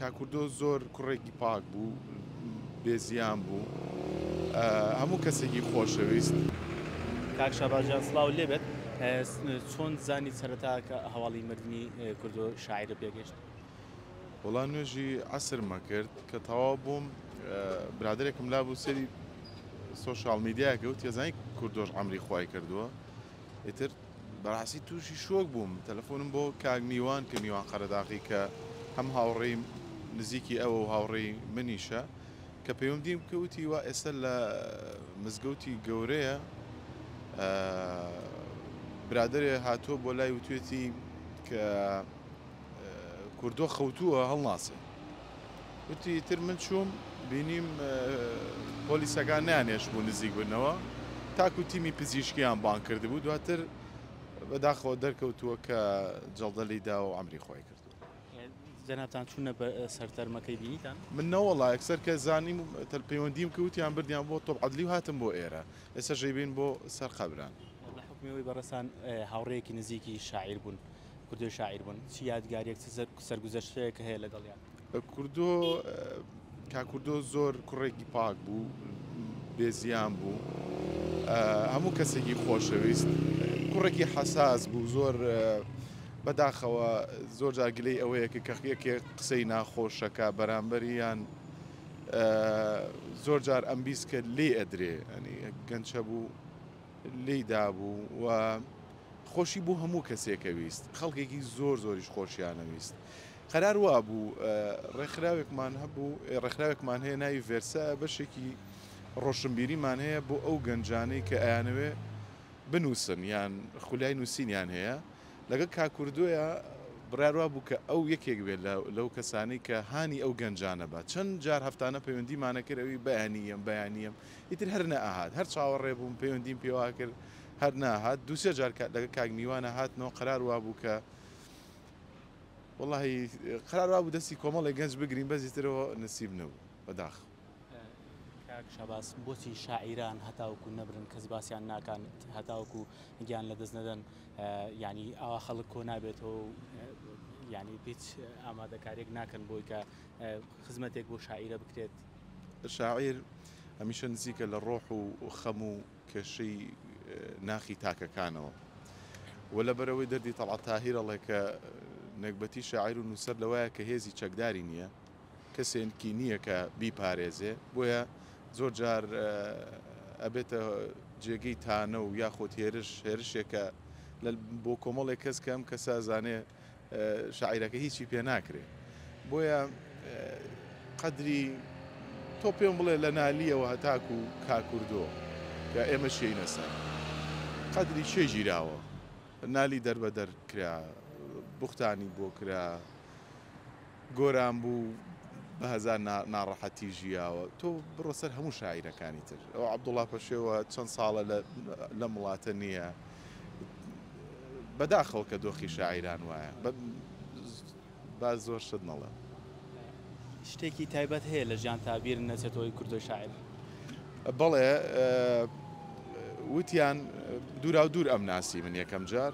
کاکوردۆ زۆر کوڕێکی پاک بوو بێ زیان بوو هەموو کەسێکی خۆشەویست. کاک شاباز جان سڵاو لێبێت چۆن زانی سەرەتا کە هەواڵی مردنی کوردۆ شاعرە پێگەشت وڵا نوێژی عسرمە کرد کە تەوا بووم برادێکم لا بوو سەری سوۆشال میدیاکە و تێزانی کوردۆش ئەمری خی کردووە ئیتر بەراستی توشی شۆک بووم تەلەفۆنم بۆ کاک میوان کە میوان قەرەداغی کە هەم هاوڕێی نزیکی ئەوە و هاوڕێی منیشە کە پەیوەندیم بکە وتی وا ئێستا لە مزگەوتی گەورەیە برادەرێ هاتووە بۆ لای وتوێتی کە کوردۆ خەوتووە هەڵناسێ. وتی ئیتر من چووم بینیم پۆلیسەکان نانێشبوو نزیک بنەوە تاکو تیمی پزیشکیان بان کردبوو دواتر بەداخەوە دەرکەوتووە کە جەڵدەلی دا و ئەمری خۆی کردو جەنابان چونە سەر تەرمەکەی بینیتان من نەوەڵا ئەکسەر کە زانیم تەل پەیوەندیم کەوتیان بردیان بۆ تۆپ عدلی و هاتم بۆ ئێرە ئێستا ژەیبین بۆ سەر قەبران لە حکمەوەی بەڕسان هاوڕێکی نزیکی شاعیر بوون. کوردۆی شاعیر بوون چ یادگاریەک چ سەرگوزەشتەیەک هەیە لەگەڵیان؟ کوردۆ کاک کوردۆ زۆر کوڕێکی پاک بوو بێزیان بوو هەموو کەسێکی خۆشەویست کوڕێکی حەساس بوو زۆر بەداخەوە زۆر جاگلەی ئەوەیە کە کەخیەکێ قسەی ناخۆشەکە بەرامبەریان زۆر جار ئەمبیست کرد لێ ئەدرێ ئەنی گەنچە بوو لێی دابوو و خۆشی بۆ هەموو کەسێکە ویست، خەڵکێکی زۆر زۆریش خۆشیانە ویست. قەرار وابوو ڕێکخراوێکمان هەبوو ڕێکخراوێکمان هەیە ناوی ڤێرسایە بەشێکی ڕۆشنبیریمان هەیە بۆ ئەو گەنجانەی کە ئەیانەوێ بنووسن یان خولای نووسینیان هەیە لەگەڵ کاکوردۆیە بڕاروا بوو کە ئەو یەکێک بێت لەو کەسانی کە هانی ئەو گەنجانە بە چەند جار هەفتانە پەیوەندیمانە کرد ئەوی بەیانیم بەیانیم ئیتر هەر نەئەهات، هەر چاوەڕێ بووم، پەیوەندیم پێوە کرد، هەر نەهات، دوو سێ جار لەگەڵ کاک میوانە هاتمەوە، قەرار وابوو کە وەڵاهی قەرار وابوو دەستی کۆمەڵێک گەنج بگریم، بەس ئیتر ئەوە نسیب نەبوو، بەداخەوە. کاک شاباز، بۆچی شاعیران هەتاوەکو نەمرن کەس باسیان ناکات، هەتاوەکو گیان لەدەست نەدەن، یانی ئاوا خەڵک کۆ نابێتەوە و یانی هیچ ئامادەکارییەک ناکەن بۆی کە خزمەتێک بۆ شاعیرە بکرێت؟ شاعیر هەمیشە نزیکە لە ڕۆح و خەم و کێشەی ناخی تاکەکانەوە و لەبەرەوەی دەردی تەڵعەت تاهیر ئەڵێ کە نەگبەتی شاعیر و نووسەر لەوایە کە هێزی چەکداری نییە کەسێنکی نییە کە بیپارێزێ بۆیە زۆر جار ئەبێتە جێگەی تانە و یاخود هێرش هێرشێکە بۆ کۆمەڵێک کەس کەم کەسە زانێ شاعیرەکە هیچی پێ ناکرێ بۆیە قەدری تۆ پێم بڵێ لە نالیەوە هەتاکو و کاکوردۆ یا ئێمە شێینە سەر قەدری شێ ژیراوە نالی دەربەدەر کرا بختانی بۆ کرا گۆران بوو بە هەزار ناڕەحەتی ژیاوە تۆ بڕۆ سەر هەموو شاعیرەکانی تر ئەو عەبدوڵا پەشێوە چەند ساڵە لەم وڵاتە نییە بەداخەوە کە دۆخی شاعیران وایە با زۆر شت نەڵێم شتێکی تایبەت هەیە لە ژیان تابیر نەچێتەوەی کوردۆی شاعر بەڵێ وتیان دوورا و دوور ئەم ناسی من یەکەم جار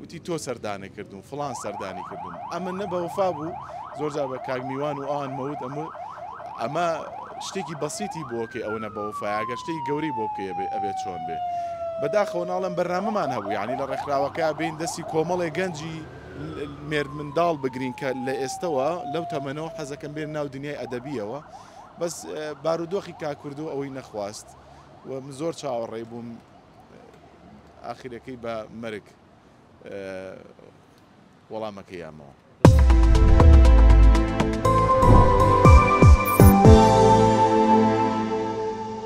وتی تۆ سەردانە کردوم فڵان سەردانی کردوم ئەمە نە بەوفا بوو زۆرجار بە کاک میوان و ئەوان مەوت ئەمە ئەمە شتێکی بەسیتی بۆکەی ئەوە نە بەوفاگە شتێکی گەوری بۆ بکە ئەبێت چۆن بێ بەداخەوە ناڵم بەرنامەمان هەبوو ینی لە ڕێکخراوەکە بین دەستی کۆمەڵێ گەنجی مێرد منداڵ بگرین کە لە ئێستەوە لەو تەمەنەوە حەزەکەم بێن ناو دنیای ئەدەبیەوە بەس بارودۆخی کاکوردو ئەوەی نەخواست و زۆر چاوەڕێ بووم ئاخیرەکەی بە مەرگ وەڵامەکەی یامەوە.